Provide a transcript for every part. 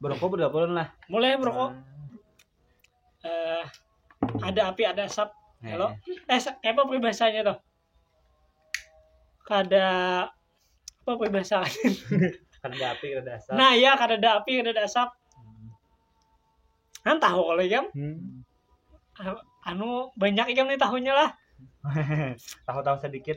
Berokok berapa bulan lah? Mulai berokok. Eh, ada api, ada asap. Kalau eh sa- apa peribahasanya tuh? Kada apa peribahasaan? Kan ada api, kan ada asap. nah ya kada ada api, kada ada asap. Kan tahu kalau ikam Hmm. Ah, anu banyak ikam nih tahunya lah. Tahu-tahu sedikit.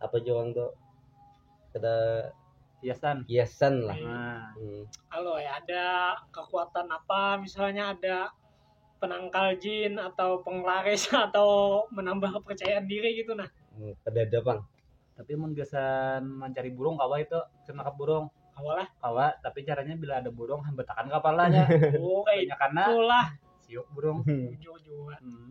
apa jua orang tuh kada hiasan hiasan lah nah. hmm. kalau ya ada kekuatan apa misalnya ada penangkal jin atau penglaris atau menambah kepercayaan diri gitu nah hmm, kada ada bang tapi mun gasan mencari burung kawa itu cenakap burung kawa lah kawa tapi caranya bila ada burung hambatakan kepalanya oh, karena siuk burung jujur hmm.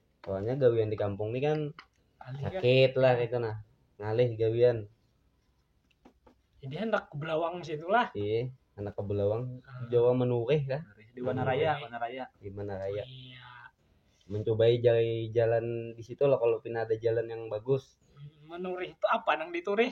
soalnya gawian di kampung ini kan sakit lah itu nah ngalih gawian jadi hendak ke belawang situ lah iya anak ke belawang ah. Jawa menurih kah di mana raya mana raya di mana raya iya. mencobai jalan jalan di situ lah kalau pina ada jalan yang bagus menurih itu apa nang diturih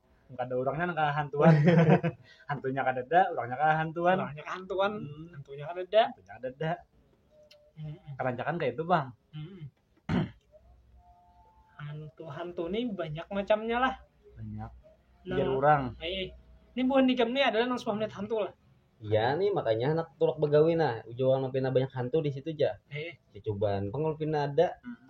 kada orangnya nang kahantuan hantunya kada ada orangnya kahantuan orangnya kahantuan hmm. hantunya kada ada hantunya kada ada hmm. kerancakan kayak itu bang hmm. hantu hantu ini banyak macamnya lah banyak nah, biar orang eh, ini bukan nikam ini adalah nang suami melihat hantu lah Iya nih makanya anak tulak begawi nah ujung pina banyak hantu di situ aja. Eh. Di cobaan pengul pina ada. Hmm.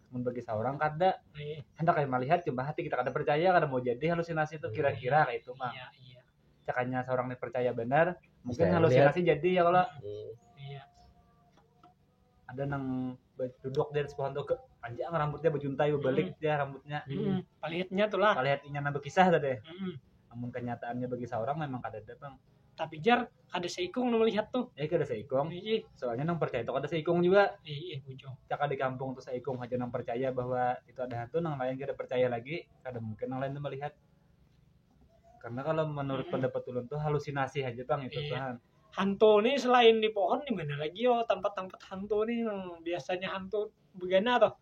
mun bagi seorang kada Nih. hendak kami melihat cuma hati kita kada percaya kada mau jadi halusinasi itu kira-kira kayak itu mah Iya, iya. cakanya seorang nih percaya benar mungkin Bisa halusinasi jadi ya kalau Hmm. Iya. ada nang ba- duduk di atas pohon tuh ke panjang rambutnya bejuntai bebalik dia rambutnya Mm-mm. Palitnya tuh lah. kalau lihat inya nang berkisah tadi Mm-mm. namun kenyataannya bagi seorang memang kada ada bang Tapi jar kada seikung nu melihat tuh eh kada seikung ih soalnya nang percaya itu kada seikung juga ih ih bujung cakap di kampung tuh seikung aja nang percaya bahwa itu ada hantu nang lain kada percaya lagi kada mungkin nang lain tuh melihat karena kalau menurut hmm. pendapat ulun tuh halusinasi aja bang itu iya. kan hantu nih selain di pohon di mana lagi yo tempat-tempat hantu nih yang biasanya hantu begana tuh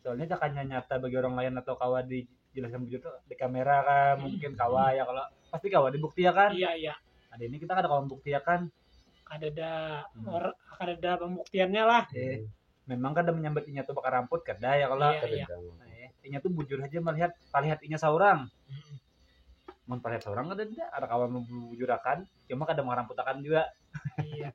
soalnya cakanya nyata bagi orang lain atau kawa dijelaskan begitu tuh di kamera kan hmm. mungkin kawa ya kalau pasti kawa dibuktiakan iya iya ada ini kita kada kawa membuktiakan ada ada hmm. or ada ada pembuktiannya lah eh, memang kada menyambat inya tuh bakar ramput kada ya kalau iya, iya. Nah, ya. inya tuh bujur aja melihat palihat inya seorang hmm. mun palihat seorang kada ada ada kawan membujurakan cuma kada mengaramputakan juga iya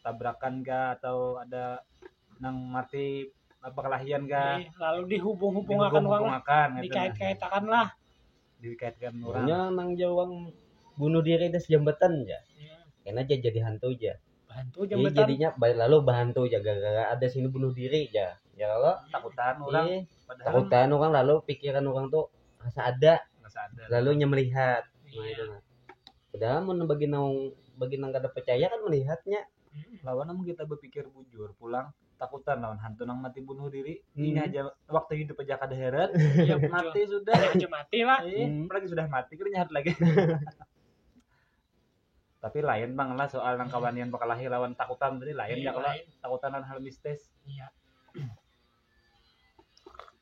tabrakan kah atau ada nang mati perkelahian kah Ih, lalu dihubung-hubungakan uang lah. dihubung-hubungakan gitu. Dikait-kaitakan lah. dikaitkan orang Nya nang jawang bunuh diri das jambatan ja. Kena aja jadi hantu ja. Bantu Jadi jambatan. jadinya ba- lalu bahantu ja gara-gara ada sini bunuh diri ja. Ya kalau takutan orang Ih, padahal takutan orang lalu pikiran orang tuh rasa ada, rasa ada lalu nya melihat. Nah, Iya. itu nah. Padahal mun bagi nang bagi nang kada pacaya kan malihatnya. Lawan amun kita bapikir bujur pulang takutan lawan hantu nang mati bunuh diri hmm. ini aja waktu hidup aja kada heret ya, mati sudah ya, aja mati lah eh, hmm. apalagi sudah mati kita nyahat lagi tapi lain bang lah soal nang kawanian bakalahi lawan takutan tadi lain iya, ya kalau takutan hal mistis iya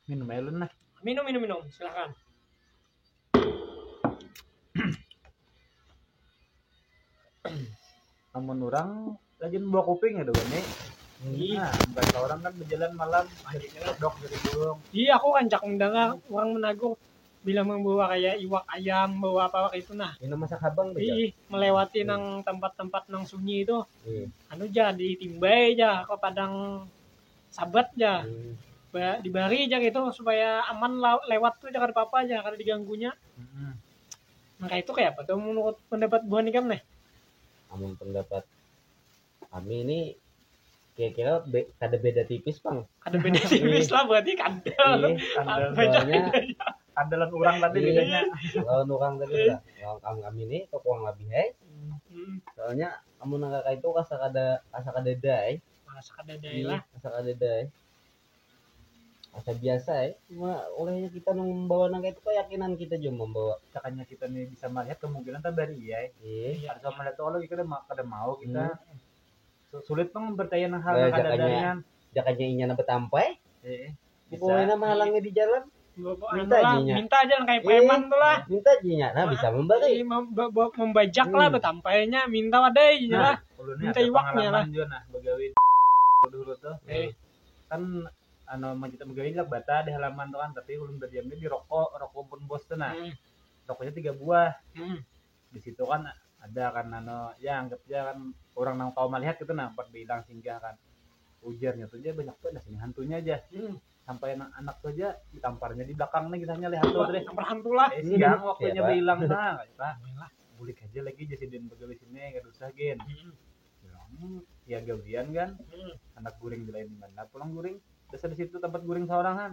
Minum aja Lun lah. Minum, minum, minum. Silakan. Namun orang rajin bawa kuping ya doang nih. Iya. Nah, bahasa orang kan berjalan malam akhirnya dok dari burung. Iya, aku rancak mendengar orang menagur bila membawa kayak iwak ayam, bawa apa kayak itu nah. Minum masak habang tuh. Iya, Ih, melewati nang tempat-tempat nang sunyi itu. Iya. Anu ja ditimbai ja ke padang sabat ja dibari ja kaitu supaya aman lewat tu ja kada papa ja kada diganggunya hmm. nah kaitu kaya apa tu menurut pendapat buhan ikam nih amun pendapat kami ini kira-kira be, kada beda tipis bang kada beda tipis lah berarti kada iya, kada ada lawan orang tadi iya. bedanya lawan orang tadi lah iya. lawan kami kami ini kekuang lebih hai hmm. soalnya amun nang kakak itu kasa kada kasa kada dai masak ada dai lah masak ada dai asa biasa ya cuma olehnya kita membawa nang itu keyakinan kita juga membawa cakanya kita nih bisa melihat kemungkinan kita dari iya iya ada sama lihat oleh kita kada mau kita hmm. sulit pang mempercayai hal yang ada dari jakanya inya nang bertampai iya bisa Pokoknya menghalangi di jalan minta Anu lah, jinya minta aja lah kayak Eh, preman tuh lah minta jinya nah bisa memberi Ini mem- be- be- membajak lah Hmm. betampainya minta wadai jinya Nah. lah Ulun ni Minta ada iwaknya pengalaman lah. jua nah begawi di dulu tuh. Eh. Kan anu mun kita begawi lak bata di halaman tuh kan tapi ulun berdiamnya di roko, roko pun bos tuh nah. Hmm, Rokonya tiga buah. hmm. di situ kan ada kan nano ya anggap aja kan orang nang tahu melihat itu nah buat bilang singgah kan ujarnya tuh dia banyak banget sini hantunya aja hmm. sampai anak anak tuh aja ditamparnya di belakang nih kisahnya lihat tuh deh tampar hantu lah eh, siang hmm. waktunya ya, bilang nah kita lah bulik aja lagi jadi din betul di sini gak usah gen hmm. hmm. ya gawian kan hmm. anak guring di lain mana pulang guring dasar di situ tempat guring seorang kan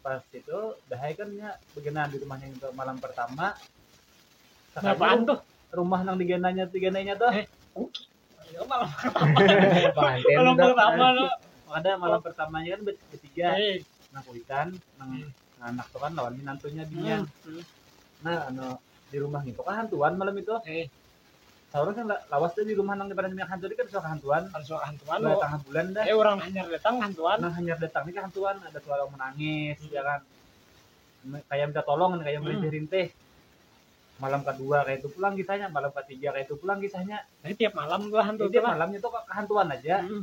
pas itu dah ae kan nya begenaan di rumahnya itu malam pertama Sakalinya Berapaan tuh? rumah nang digenanya digenanya tuh Eh, kuki. Ya, malam pertama. Panten malam udah. pertama lo. ada malam pertamanya kan ber- bertiga Eh, nang kuitan nang Hmm. nang anak tuh kan lawan minantunya binian hmm. nah anu di rumah itu kan hantuan malam itu eh, Saurang kan lawas ja di rumah nang di padan minyak hantu ni kada suah kahantuan, kada suah kahantuan sudah tangah bulan dah, eh urang hanyar datang kahantuan, nang hanyar datang ni kahantuan ada suara urang manangis hmm. ya kan kaya minta tolong kan kaya merintih-rintih hmm. malam kedua kaya itu pulang kisahnya malam ketiga kaya itu pulang kisahnya jadi tiap malam tuh hantu eh, tiap malamnya tuh kahantuan aja hmm.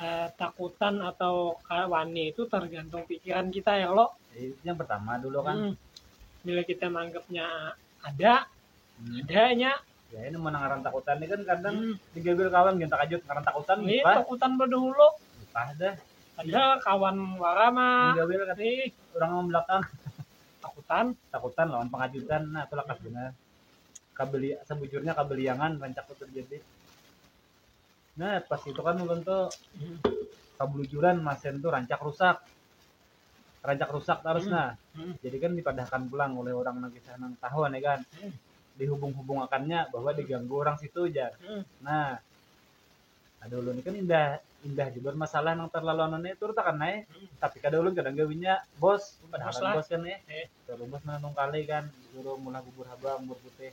eh, takutan atau wani itu tergantung pikiran kita ya lo eh, yang pertama dulu kan hmm. bila kita menganggapnya ada hmm. adanya ya ini menang ngaran takutan ini kan kadang hmm. digambil kawan kita kajut ngaran takutan ini iya, takutan berdahulu entah dah ada kawan warama digambil kan eh. orang ngomong belakang takutan takutan lawan pengajutan nah itulah kasihnya kabeli sebujurnya kabeliangan rancak terjadi Nah, pas itu kan ulun tuh kebelujuran masen tuh rancak rusak. Rancak rusak terus hmm. nah. Hmm. Jadi kan dipadahkan pulang oleh orang nang kisah nang tahu nih kan. Hmm. Dihubung-hubungakannya bahwa hmm. diganggu orang situ aja. Hmm. Nah, ada ulun kan indah indah juga masalah nang terlalu anu nih turut akan naik hmm. tapi kada ulun kadang gawinya bos padahal bos kan nih eh. terlalu bos nang kali kan suruh mulai bubur habang bubur putih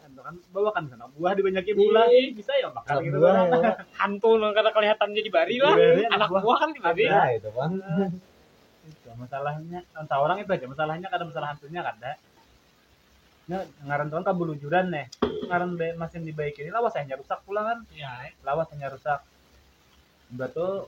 bawakan sana buah dibanyaki bulah bisa ya makan gitu kan hantu nang kada kelihatan jadi bari lah anak buah kan jadi bari nah itu kan itu masalahnya entah orang itu aja masalahnya kada masalah hantunya kada nya ngaran tuan kabulujuran nih ngaran be, masin dibaiki ini lawas hanya rusak pula kan ya. lawas hanya rusak batu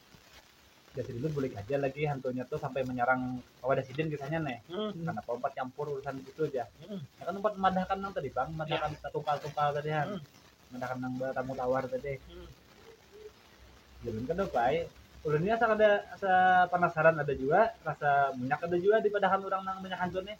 Jadi dulu bulik aja lagi hantunya tuh sampai menyerang Wadah Sidin kisahnya nih. Hmm. Karena pompat campur urusan gitu aja. Hmm. Ya kan tempat memadahkan nang tadi bang, memadahkan ya. tungkal-tungkal tadi kan. Hmm. Memadahkan nang tamu tawar tadi. Hmm. Jadi kan udah baik. Ulunnya asal ada asa penasaran ada juga, rasa minyak ada juga di padahan orang nang banyak hancur nih.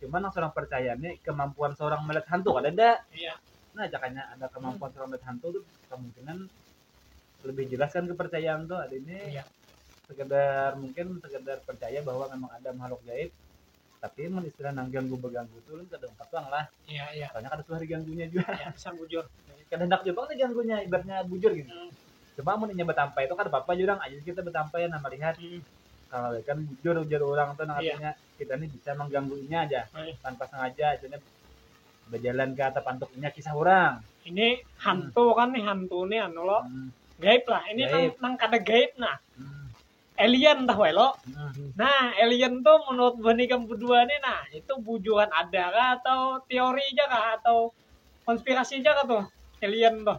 Cuma nang seorang percaya nih kemampuan seorang melihat hantu ada enggak? Iya. Nah, jakanya ada kemampuan hmm. seorang melihat hantu tuh kemungkinan lebih jelas kan kepercayaan tuh ada ini iya. sekedar mungkin sekedar percaya bahwa memang ada makhluk gaib tapi mun istilah nang ganggu beganggu tuh lu kada empat doang lah iya iya soalnya kada suah diganggunya juga iya, bisa bujur kada hendak juga kan ganggunya ibaratnya bujur gitu hmm. cuma mun inya betampai itu kada apa-apa jurang aja kita betampai nah melihat hmm. kalau kan bujur ujar orang tuh nang iya. artinya iya kita ni bisa mangganggu inya aja Hai. tanpa sengaja itu berjalan ke atap antuk inya kisah orang ini hantu hmm. kan nih hantu nih anu lo hmm. gaib lah ini gaib. nang, nang kada gaib nah hmm. alien dah wae lo hmm. nah alien tuh menurut bani kamu berdua nih nah itu bujuan ada kah atau teori aja kah atau konspirasi aja kah tuh alien tuh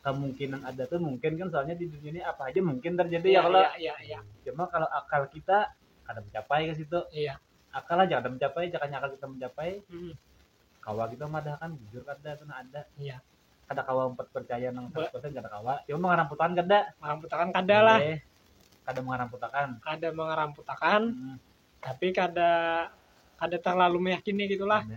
kemungkinan ada tuh mungkin kan soalnya di dunia ini apa aja mungkin terjadi ya, ya kalau ya, ya, ya. cuma kalau akal kita kada mencapai ke situ iya. akal aja kada mencapai cakanya akal kita mencapai hmm. kawa kita madahkan jujur kada itu nah ada iya. kada kawa empat percaya nang seratus persen kada kawa cuma mengaramputakan kada mengaramputakan kada lah iya. kada mengaramputakan kada mengaramputakan hmm. tapi kada kada terlalu meyakini gitulah iya.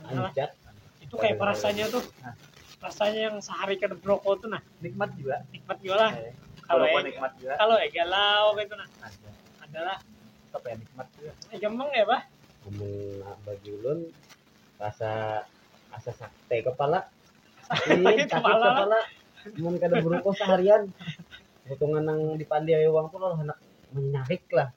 adalah itu kayak rasanya tuh rasanya yang sehari ke broko tuh nah nikmat juga nikmat juga lah eh, kalau e, nikmat juga kalau e galau gitu nah ada. adalah apa ya nikmat juga eh, gampang ya bah ngomong bagi ulun rasa asa sakte kepala sakit kepala, kepala. mun kada broko seharian potongan nang dipandi ayo uang tuh lah anak menyarik lah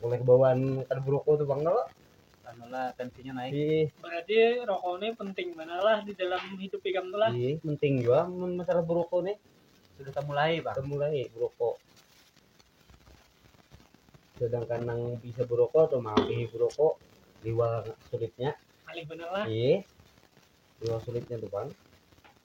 Mulai kebawaan kada berokok tu pang kalo. Anu lah tensinya naik. Ih, Berarti rokok ni penting banar lah di dalam hidup ikam tu lah. ih, penting jua mun masalah berokok nih. Sudah temulai pang. Temulai berokok. Sedangkan nang bisa berokok tu maampihi berokok liwar sulitnya. Ngalih banar lah. Ih, liwar sulitnya tu pang.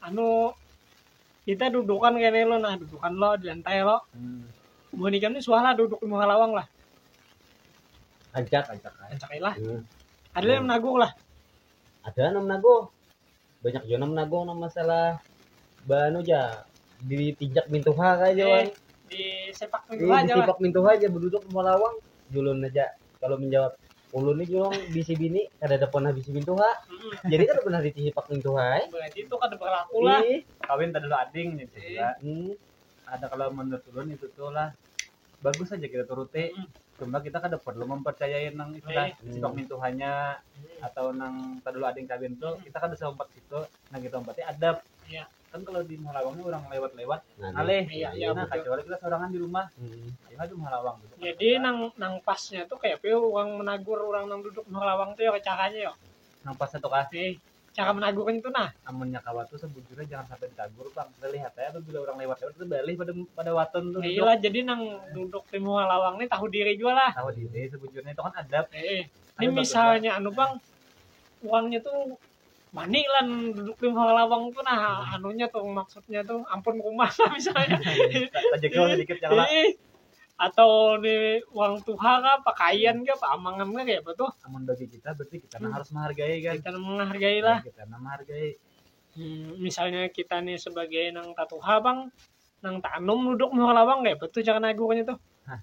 anu kita dudukan kene lo nah dudukan lo di lantai lo Hmm. buhan ikam ni suah lah duduk di muha lawang lah Ajak, ajak. ajak. ancak lah Hmm. ada lah yang menaguk lah Ada nang menaguh. Banyak juga nang menaguh nang masalah banu ja dipijak mintuha kaya Eh, jawan. di sepak Di, pintu aja lah ditipak mintuha aja berduduk di muha lawang. Julun aja. kalau menjawab ulun ni jua bisi bini kada ada pernah bisi mintuha jadi kada pernah dicihipak mintuha eh berarti itu kada berlaku lah Ih, kawin kada ada ading nih juga hmm. ada kalau menurut ulun itu tuh lah bagus aja kita turuti hmm. cuma kita kada perlu mempercayai nang istilah hmm. sipak mintuhanya hmm. atau nang kada ada ading kawin tuh hmm. kita kada sempat situ nang kita umpati adab yeah. kan kalau di Muhalawang ini orang lewat-lewat Nah, ngalih Iya, iya, nah betul. kacuali kita sorangan di rumah Hmm. ayo ha di Muhalawang duduk Jadi nang nang pasnya tuh kayak apa ya orang menagur orang nang duduk di Halawang tuh ya caranya ya. nang pas satu kah Eh, cara menagurnya tuh nah. amunnya kawa tuh sebujurnya jangan sampai ditagur bang kita lihat aja apabila orang lewat-lewat kita balik pada pada waton tuh Ya duduk. iyalah jadi nang duduk di muka lawang nih tahu diri juga lah. tahu diri sebujurnya itu kan adab Eh, eh. Ini Ayo, Bang, misalnya anu bang, uangnya tuh mani lah duduk di bawah lawang tuh nah anunya tuh maksudnya tuh ampun kumas lah misalnya tajegel sedikit yang lah Ih, atau di uang tuha kah pakaian kah paamangan kah kayak apa tuh amun bagi kita berarti kita nah Hmm. harus menghargai kan kita menghargai lah kita nah menghargai Hmm, misalnya kita nih sebagai nang tatuha bang nang tanum duduk di bawah lawang kayak apa tuh jangan agurnya tuh Hah.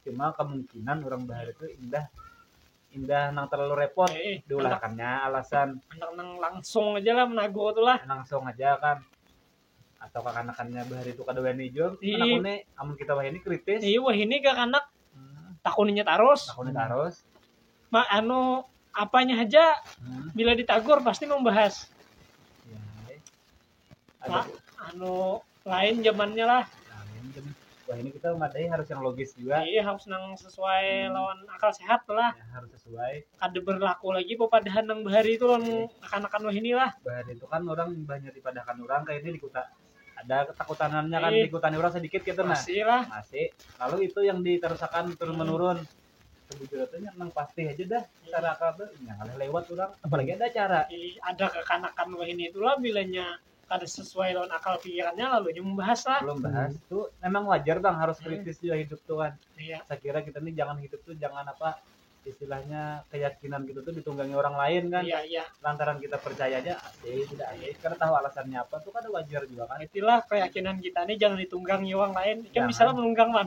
cuma kemungkinan orang bahari tu indah indah nang terlalu repot Eh, eh, diulahkannya alasan anak nang langsung aja lah menagur tu lah langsung aja kan atau kakanakannya bahari itu kada wani jua Ii. anak ini amun kita wahini kritis iya wah ini ke anak Hmm, takuninya tarus aku ni tarus Ma, anu apanya aja Hmm, bila ditagur pasti membahas ya, eh. Pak, anu lain zamannya lah. Wah ini kita memadai harus yang logis juga. Iya harus nang sesuai lawan akal sehat tuh lah. Ya, harus sesuai. Kada berlaku lagi pepadahan nang bahari itu lawan akan-akan wah ini lah. Bahari itu kan orang banyak dipadahakan orang kayak ini di kota. Ada ketakutanannya kan Iya. di kota ini orang sedikit gitu nah. Masih lah. Masih. Lalu itu yang diterusakan turun menurun. Sebujurnya tuh yang nang pasti aja dah cara kabe yang ada lewat orang apalagi ada cara Jadi ada kekanakan wahini itulah bilanya kada sesuai lawan akal pikirannya lalu nya membahas lah. belum bahas tuh memang wajar bang harus Hmm. kritis juga hidup tuh kan Iya. saya kira kita nih jangan hidup tuh jangan apa istilahnya keyakinan kita tuh ditunggangi orang lain kan Iya, iya. lantaran kita percaya aja eh tidak ada karena tahu alasannya apa tuh kan wajar juga kan Itulah keyakinan kita nih jangan ditunggangi orang lain. Kan Jangan. bisa lah menunggang man.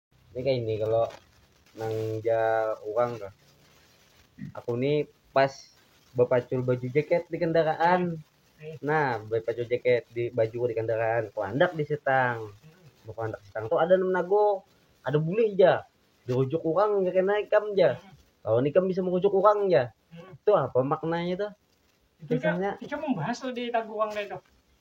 Ini kayak ini kalau nang ja orang tuh. Aku nih pas bapacul baju jaket di kendaraan. Nah, bapacul jaket di baju di kendaraan, kuandak di sitang. Kuandak sitang tuh ada enam nago, ada bulih ja. Dirujuk orang ja kena ikam ja. Lawan ikam bisa merujuk orang ja. Itu apa maknanya tuh? Itu Kisahnya. Ikam membahas di taguang kayak itu.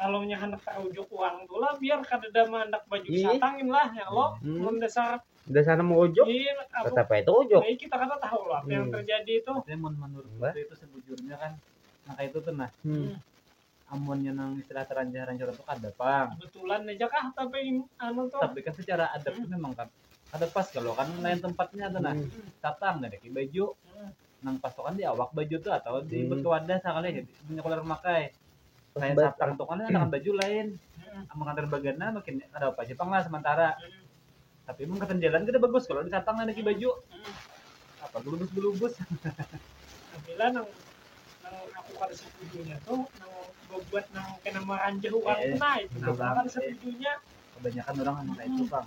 Kalau nya handak taujuk uang tu lah biar kadada handak baju iya. satangin lah ya lo hmm. mun dasar dasar mau ujuk iya, tetap itu ujuk nah, kita kata tahu lah apa hmm. yang terjadi itu tapi mun menurut gue itu sebujurnya kan nah kayak itu tuh nah hmm. amun yang nang istilah teranjah ranjur itu kada pang kebetulan aja kah tapi anu tuh tapi kan secara adat hmm. memang kan ada pas kalau kan lain tempatnya tuh nah hmm. tatang ada baju hmm. nang pasukan di awak baju tuh atau di Hmm. batu wadah sakali punya kuler memakai Pas kayak bat- satpam tuh kan ada baju lain amun kantor bagana makin ada apa aja pang lah sementara tapi mun katan jalan kada bagus kalau di satpam ada lagi baju apa gelubus gelubus Bila nang nang aku kada setujunya tuh nang bebuat nang kena meranjah orang Eh, tuh nah itu nah, aku kada eh. setujunya kebanyakan orang emang kayak itu pang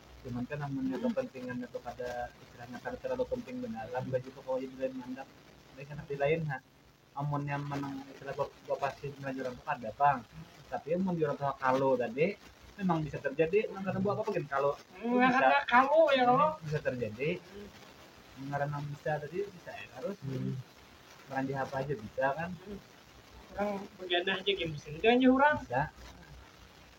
Cuman kan amunnya kepentingannya tu kada istilahnya kada terlalu penting banar lah baju tu kawa jadi lain banar tapi handak dilain ha amunnya manang istilah bapasin lawan urang tu kada pang tapi amun urang tu kalu tadi memang bisa terjadi nang kada bawa apa apa gin kalu bisa terjadi nang ngaran nang bisa tadi bisa ai tarus maranjah apa haja bisa kan bisa.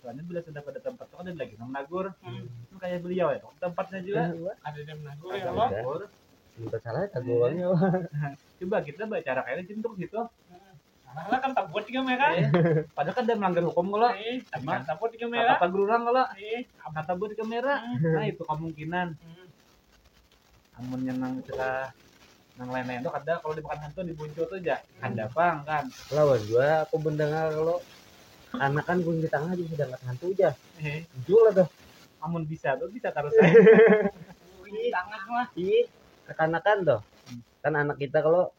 Soalnya bila sudah pada tempat tu ada lagi nang menagur. Sama kaya beliau ya pang tempatnya jua. Ada nang menagur ya Ada. Menagur. Minta salah ya tagu orangnya. Coba kita bacara kaya ni cintuk situ. Alah kan tabut juga mereka. Eh, Padahal kada melanggar hukum kalo. Eh, Cuma, kan tabut juga Kata mereka. tagur urang kalo. Eh, Kata buat kamera. Nah itu kemungkinan. hmm. amunnya nang istilah nang lain-lain tuh kada kalau dimakan hantu dibuncu tuh aja kada pang kan lawas jua aku mendengar kalau anak kan kunci tangah jadi sedangkan hantu aja Hehe. muncul lah tuh amun bisa tuh bisa terus aja. Kunci tangah mah. Ih, kekanakan tuh. Kan anak kita kalau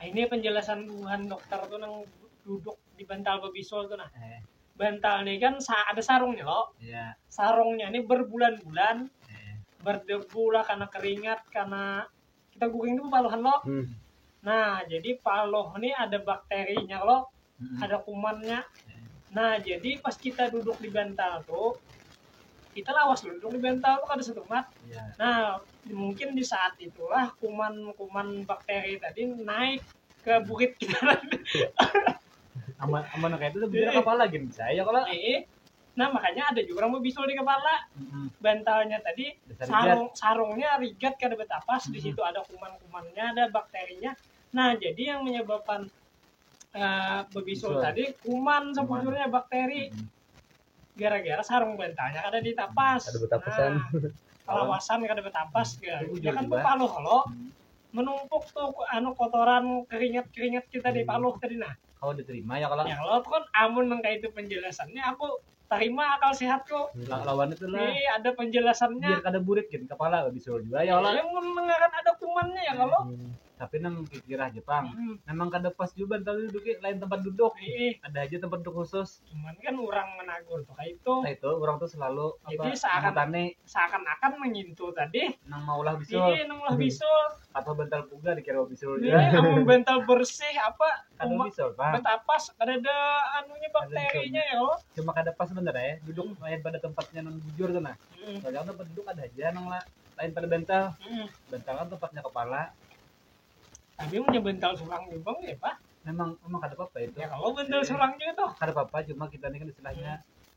Ini penjelasan buhan dokter tuh nang duduk di bantal babisul tuh nah. Eh. Bantal nih kan sa ada sarungnya lo. Yeah. Sarungnya nih berbulan-bulan eh. berdebu lah karena keringat karena kita guring tuh paluhan lo. Hmm. Nah, jadi paloh nih ada bakterinya lo. hmm. ada kumannya nah jadi pas kita duduk di bantal tuh kita lawas duduk di bantal tuh ada satu mat yeah. nah mungkin di saat itulah kuman-kuman bakteri tadi naik ke bukit kita aman aman kayak itu tuh bisa kepala gini saya kalau eh, eh. nah makanya ada juga orang bisul di kepala mm-hmm. bantalnya tadi Besar sarung rigat. sarungnya rigat kada betapas mm-hmm. di situ ada kuman-kumannya ada bakterinya nah jadi yang menyebabkan uh, bebisul tadi kuman sebujurnya bakteri hmm. gara-gara sarung bantalnya kada ditapas ada betapasan nah, lawasan kada betapas ya, ya kan tuh paluh lo hmm. menumpuk tuh anu kotoran keringat keringat kita di hmm. paluh tadi nah kalau diterima ya kalau ya kalau kan amun nang itu penjelasannya aku tarima akal sehatku Lah lawan itu lah. ini ada penjelasannya Biar kada burik gin kepala lebih suruh jua ya Allah. Yang mun ngaran ada kumannya ya kalo Hmm, Tapi nang kikir haja pang. Hmm. Memang kada pas jua bantal ni duduki, lain tempat duduk. Ih, Ada haja tempat duduk khusus. cuman kan urang managur tu kaitu Nah itu urang tu selalu apa Jadi seakan- mengutani seakan-akan mengintu tadi nang maulah bisul. ini nang ulah bisul Atau bantal puga dikira bisul Iya, ya. amun bantal bersih apa Kada umak bisul, Bang. betapas kada ada anunya bakterinya ya Allah. Cuma kada pas banar ya. Duduk lain pada tempatnya nang bujur tu nah. Mm, Soalnya kan tempat duduk ada haja nang la- lain pada bantal. mm. Bantal kan tempatnya kepala. Tapi punya bantal surang juga bang ya pak. Memang memang kada apa-apa itu. Ya kalau bantal surang juga tuh. Kada apa-apa cuma kita ni kan istilahnya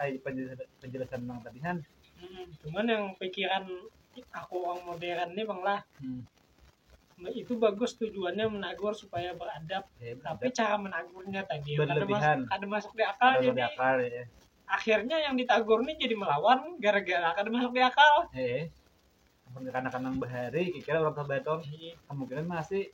ai penjelasan nang tadi han hmm, cuman yang pikiran aku orang modern nih bang lah hmm. Nah, itu bagus tujuannya menagur supaya beradab ya, tapi cara menagurnya tadi ya, ada, mas, ada masuk di akal ada jadi akal, ya. akhirnya yang ditagur nih jadi melawan gara-gara ada masuk di akal ya. mun kekanakan nang bahari kikira urang tua banar kemungkinan masih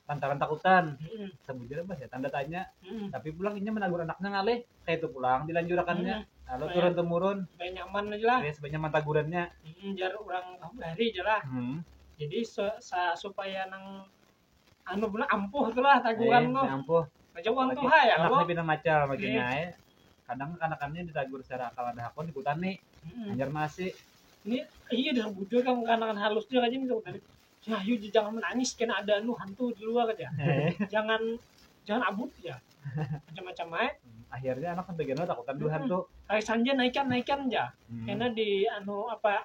lantaran takutan sabujurnya bah ya tanda tanya Mm-mm. tapi pulang inya menagur anaknya ngalih kayak itu pulang dilanjurakannya Mm-mm. lalu Supaya- turun temurun supaya nyaman aja lah ya sebanyak mantagurannya Mm, jar orang bahari aja lah hmm. jadi se- sa- supaya nang anu benar ampuh tu lah taguran tu. Ampuh. Macam uang tuh hai ya. Anak lebih macam begini ya. Kadang kanak-kanaknya ditagur secara akal ada hakun di kutani. Hmm. Anjar masih. Ini iya dah bujur kan kanak-kanak halus dia aja nih kutani. Ya, yuk jangan menangis kena ada anu hantu di luar aja. Eh. jangan jangan abut ya. Macam-macam aja. Hmm, akhirnya anak sampai geno takutan dulu hmm. hantu. Kayak sanja naikan naikan aja. Hmm. Karena di anu apa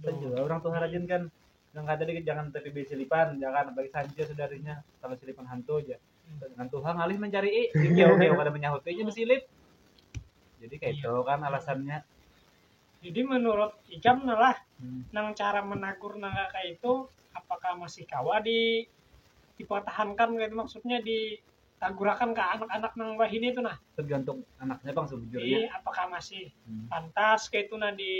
Ada juga orang tuh harajin kan yang kata dikit jangan tertibi silipan jangan apalagi sancir saudaranya kalau silipan hantu aja dengan Tuhan ngalih mencari i jauh jauh kada menyahutinya bersilip jadi kayak itu kan alasannya Jadi menurut ikam nah lah, Hmm. nang cara menagur nang kayak itu apakah masih kawa di dipertahankan gitu maksudnya di tagurakan ke anak-anak nang wahini tu nah. Tergantung anaknya pang sebujurnya. Iya, apakah masih hmm. pantas kayak itu nah di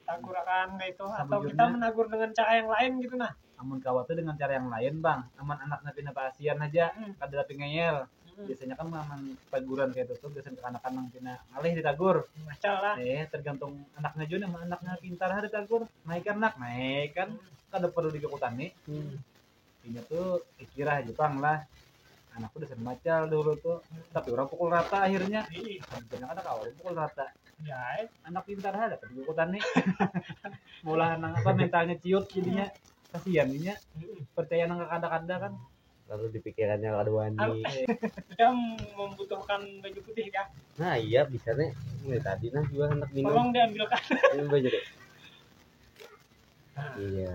tagurakan kayak itu atau kita menagur dengan cara yang lain gitu nah. Amun kawat tuh dengan cara yang lain bang, aman anaknya pindah ke asian aja, hmm. kada pingayel. Hmm. Biasanya kan aman taguran kayak itu tuh biasanya anak-anak nang pina ngalih ditagur. Macam lah. Eh, tergantung anaknya juga, aman anaknya pintar hari tagur, naik anak, naik kan, hmm. kada perlu dikekutani. Hmm inya tuh pikirah aja pang lah anak tuh dasar macal dulu tuh tapi orang pukul rata akhirnya karena ada kawan pukul rata ya eh. anak pintar ada tapi buku tani mulahan nang apa mentalnya ciut jadinya kasihan inya percaya nang kada-kada kan lalu dipikirannya kada wani Dia membutuhkan baju putih ya. nah iya bisa nih mulai tadi nah juga hendak minum Tolong diambilkan. minum baju deh iya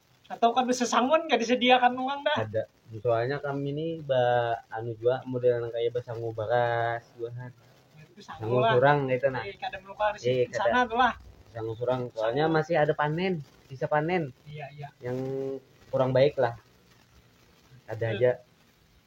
Atau kan bisa sangun gak disediakan uang dah. Ada. Soalnya kami ini ba anu jua model nang kaya basangu baras buahan. Itu sangu Sangu lah. surang gitu nah. Eh, kada melukar di Iya, kada. sana tuh lah. Sangu surang soalnya Sangu. masih ada panen, sisa panen Iya, iya. yang kurang baik lah. Ada Iya. aja.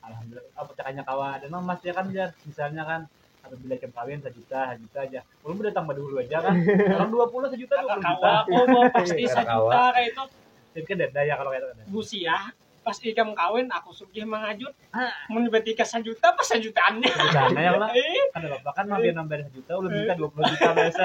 alhamdulillah oh, percakanya kawa ada no mas ya kan jar misalnya kan apabila jam kawin sejuta sejuta aja belum udah tambah dulu aja kan orang dua puluh sejuta dua puluh juta aku mau pasti Kakak kawa. sejuta kayak itu jadi kan dada ya kalau kayak itu kan dada. busia pas ikam kawin aku sugih mangajut Ah. mun betika sejuta pas sejutaannya Sana ya lah Eh, kan apa kan mampir nambah sejuta udah minta dua puluh juta biasa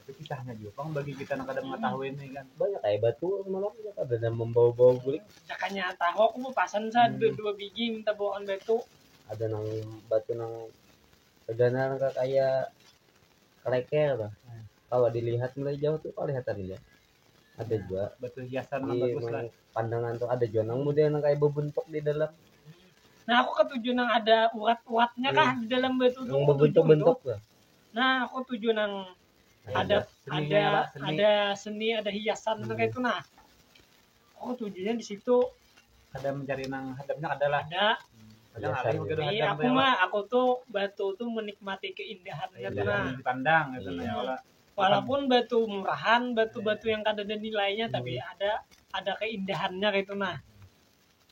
Tapi kisahnya juga pang bagi kita nang kada mengetahui ini kan. Banyak kayak batu semalam ya kada ada membawa-bawa guling. Cakanya tahu aku mau pasan sa hmm. dua, dua biji minta bawaan batu. Ada nang batu nang tegana nang kaya keleker lah. Hmm. Kalau dilihat mulai jauh tuh kelihatan ya. Ada hmm. juga batu hiasan di bagus lah. Pandangan tuh ada juga nang model nang kayak berbentuk di dalam. Nah aku ketujuh nang ada urat-uratnya hmm. kah di dalam batu tuh. Yang berbentuk-bentuk lah. Nah, aku tuju nang ada ada ada seni, ada hiasan hmm. itu nah. Aku tujunya di situ ada mencari nang hadapnya ada lah. Ada. Ada ngalih mungkin ada. Iya, aku mah aku tuh batu tuh menikmati keindahan iya, gitu nah. Dipandang gitu nah, iya. nah. Walaupun batu murahan, batu-batu yang kada ada nilainya hmm. tapi ada ada keindahannya gitu nah.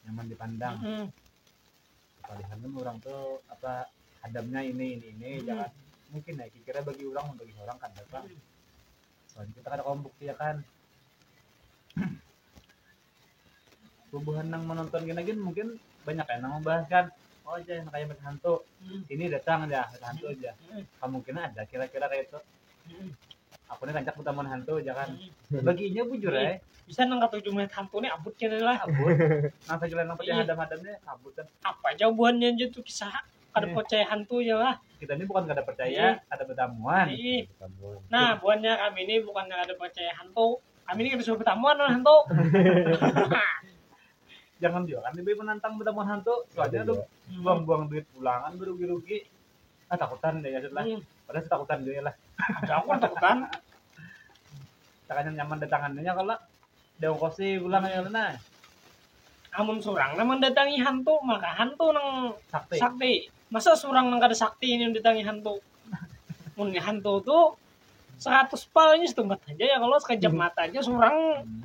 Nyaman dipandang. Hmm. Palihan kan urang tu apa hadamnya ini ini ini hmm. jangan mungkin ya kira bagi orang bagi orang kan datang hmm. soalnya kita kada kawan bukti ya kan bubuhan nang menonton gini gini mungkin banyak yang nang membahas kan oh aja yang kayak mata hantu hmm. ini datang aja mata hantu aja hmm. kemungkinan ada kira-kira kayak itu aku nih rancak berteman hantu jangan baginya bujur ya bisa nang kata tujuh menit hantu nih abut kena lah kabut nang saja lain apa Iya. hadam hadamnya kabut kan apa aja buannya aja tuh kisah kada Iya. percaya hantu aja lah kita ini bukan kada Iya. percaya kada bertamuan Ih. Tamuan. nah buannya kami ini bukan yang ada percaya hantu kami ini kada suruh bertamuan lawan hantu jangan juga kan lebih menantang berteman hantu soalnya Iya. lu buang-buang duit pulangan berugi-rugi ah takutan deh lah hmm. padahal takutan juga lah ada aku kan takutan takanya nyaman datangannya kalau dia kosi pulang ya lah amun surang nang mendatangi hantu maka hantu nang sakti, sakti. masa surang nang kada sakti ini mendatangi hantu mun hantu tuh seratus pal ini setempat aja ya kalau sekejap hmm. mata aja surang hmm.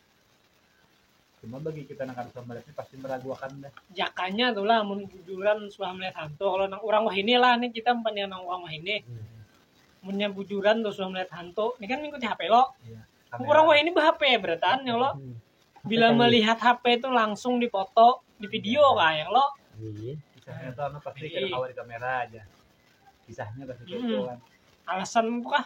Cuma bagi kita nang kada melihat ini pasti meragukan dah. Jakanya tuh lah mun bujuran suah melihat hantu. Kalau nang orang wah ini lah nih kita umpannya nang orang wah ini. Hmm. Munnya bujuran tuh suah melihat hantu. Ini kan mengikuti HP lo. Ya, orang wah ini berhp berataan ya lo. Hmm. Bila kan melihat HP itu langsung difoto, di video iya. kayak lo. Iya. Kisahnya tuh anu pasti iya. kawa di kamera aja. Kisahnya pasti hmm. gitu kan. Alasan kah?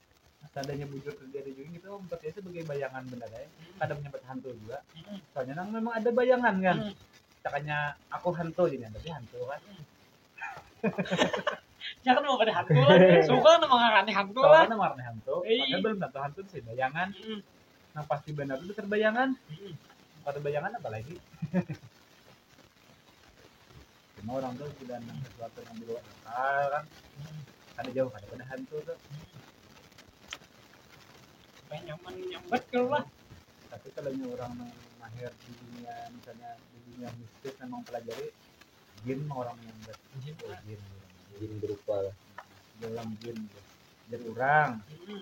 seandainya bujur terjadi juga gitu om tapi itu sebagai bayangan bener ya kadang menyebut hantu juga soalnya nang memang ada bayangan kan Hmm. takanya aku hantu jadi tapi hantu kan Ya kan mau pada hantu lah. Suka kan emang aneh hantu lah. soalnya nang warna hantu Iya. padahal belum tentu hantu sih bayangan Mm. nang pasti benar itu besar bayangan Mm. kalau bayangan apa lagi Cuma orang tu sudah nang sesuatu nang dibawa akal kan. Kada jauh kada pada hantu tu. Kayak nyaman nyambat kalau lah. Tapi kalau nya orang nang mahir di dunia misalnya di dunia mistis memang pelajari jin mah orang yang ber Jin oh, lah. jin jin berupa lah. dalam jin jar orang. Mm-mm.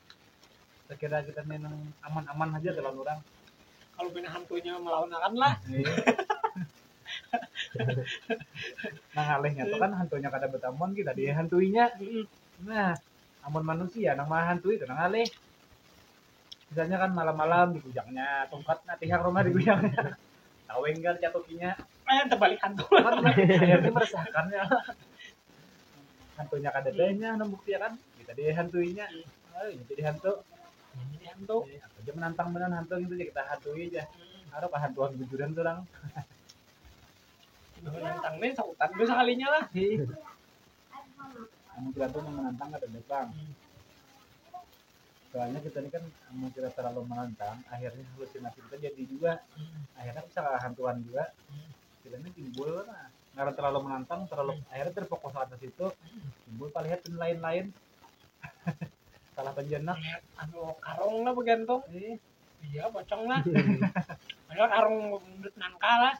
sekira kita nih nang aman-aman aja kalau orang kalau punya hantunya melawan akan lah nah ngalihnya tuh kan hantunya kada bertamuan kita dia hantuinya Mm-mm. nah amun manusia nang mahantui itu nang ngalih misalnya kan malam-malam digujaknya tongkat nah pihak rumah digujaknya taweng kan catukinya Eh, terbalik hantu. Ini meresahkan ya. Hantunya kada tanya, nang bukti ya kan? Kita dia hantuinya. Ayo, ini jadi hantu. Ini hantu. Eh, Apa aja menantang benar hantu gitu aja kita hantui aja. Harap hantuan bujuran tuh orang. Menantang nih, sahutan gue sekalinya lah. Kamu kira tuh yang menantang kada datang. soalnya kita ini kan amun kita terlalu menantang akhirnya halusinasi kita jadi juga akhirnya bisa hantuan juga kita ini timbul nah, karena terlalu menantang terlalu akhirnya terfokus atas itu timbul palihat dan lain-lain salah penjenak anu karung lah begantong eh, iya pocong lah ada karung bundut nangka lah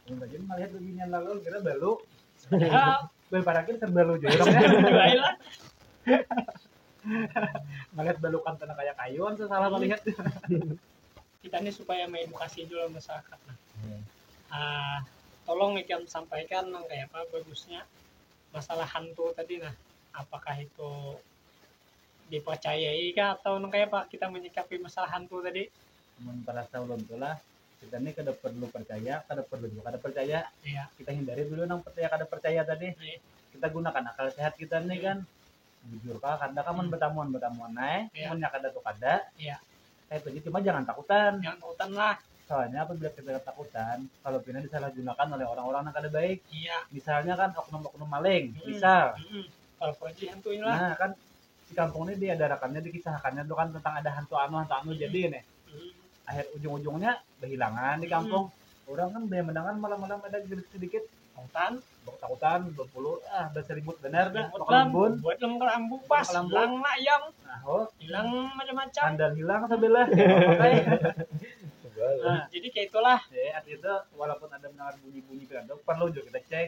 Yang tadi melihat beginian lalu kira balu padahal Bel parakir terbalu jauh. Baiklah. Melihat balukan tanah kayak kayu kan salah hmm. melihat. Kita ini supaya mengedukasi juga masyarakat. Nah. Hmm. Uh, tolong ikam sampaikan nang kayak apa bagusnya masalah hantu tadi nah apakah itu dipercayai kah atau nang kayak apa kita menyikapi masalah hantu tadi mun perasa ulun tu lah kita ni kada perlu percaya kada perlu juga kada percaya Iya. kita hindari dulu nang percaya kada percaya tadi Iya. kita gunakan akal sehat kita ni kan jujur kah kada kah mun betamuan betamuan ae Iya. munnya kada tu kada Iya. kayak tu aja cuma jangan takutan Jangan takutan lah. soalnya apabila kita ketakutan kalau pina disalahgunakan oleh orang-orang yang kada baik Iya. misalnya kan oknum-oknum maling Mm. misal Mm-mm. Kalau polisi hantu inilah. nah kan si kampung ni diadarakannya dikisahakannya tu kan tentang ada hantu anu hantu anu jadi ini akhir ujung ujungnya behilangan di kampung orang kan banyak mendengar malam malam ada sedikit sedikit Tangtan, takutan berpuluh ah berseribut benar dah Ribut bakal lam, embun buat lam kalau ambu pas, Bakal ambu. hilang mak ayam, nah oh hilang macam-macam. sandal hilang sebelah ya pakai Sebal. Nah, jadi kayak itulah. ya artinya itu walaupun ada mendengar bunyi bunyi kira itu perlu juga kita cek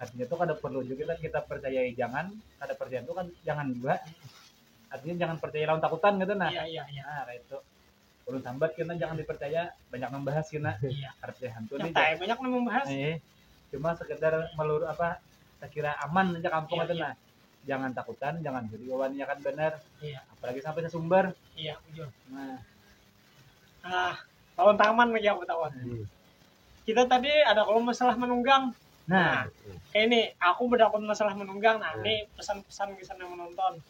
artinya tuh kada perlu juga kita, kita percayai jangan kada percaya itu kan jangan juga artinya jangan percaya lawan takutan gitu nah iya iya iya nah kayak itu ulun sambat kena jangan dipercaya banyak membahas kena iya. artinya hantu nih banyak membahas iya. cuma sekedar melur apa tak kira aman aja kampung iya, itu iya. nah jangan takutan jangan jadi wawannya kan benar iya. apalagi sampai sesumber iya nah ah tahun taman lagi aku tahu hmm. kita tadi ada kalau masalah menunggang nah, nah kayak ini aku berdapat masalah menunggang nah hmm. ini pesan-pesan bisa yang menonton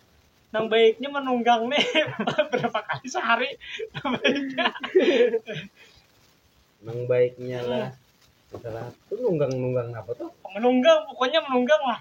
nang baiknya menunggang nih berapa kali sehari nang baiknya nang baiknya lah hmm. masalah itu nunggang nunggang apa tuh menunggang pokoknya menunggang lah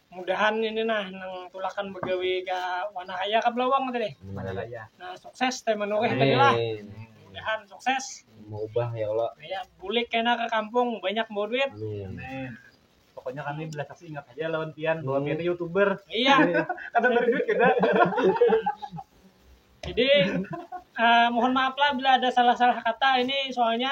mudahan ini nah nang tulakan bagawi ka wana kaya ka belawang tadi Mana kaya. nah sukses teh manuhih tadi lah Amin. mudahan sukses Maubah ya Allah. kaya bulik kena ka kampung banyak bawa duit Amin. Amin. Pokoknya kami belas kasih ingat haja lawan pian bahwa Hmm. pian ni youtuber. iya Kada bari duit kita. jadi eh, mohon maaf lah bila ada salah-salah kata ini soalnya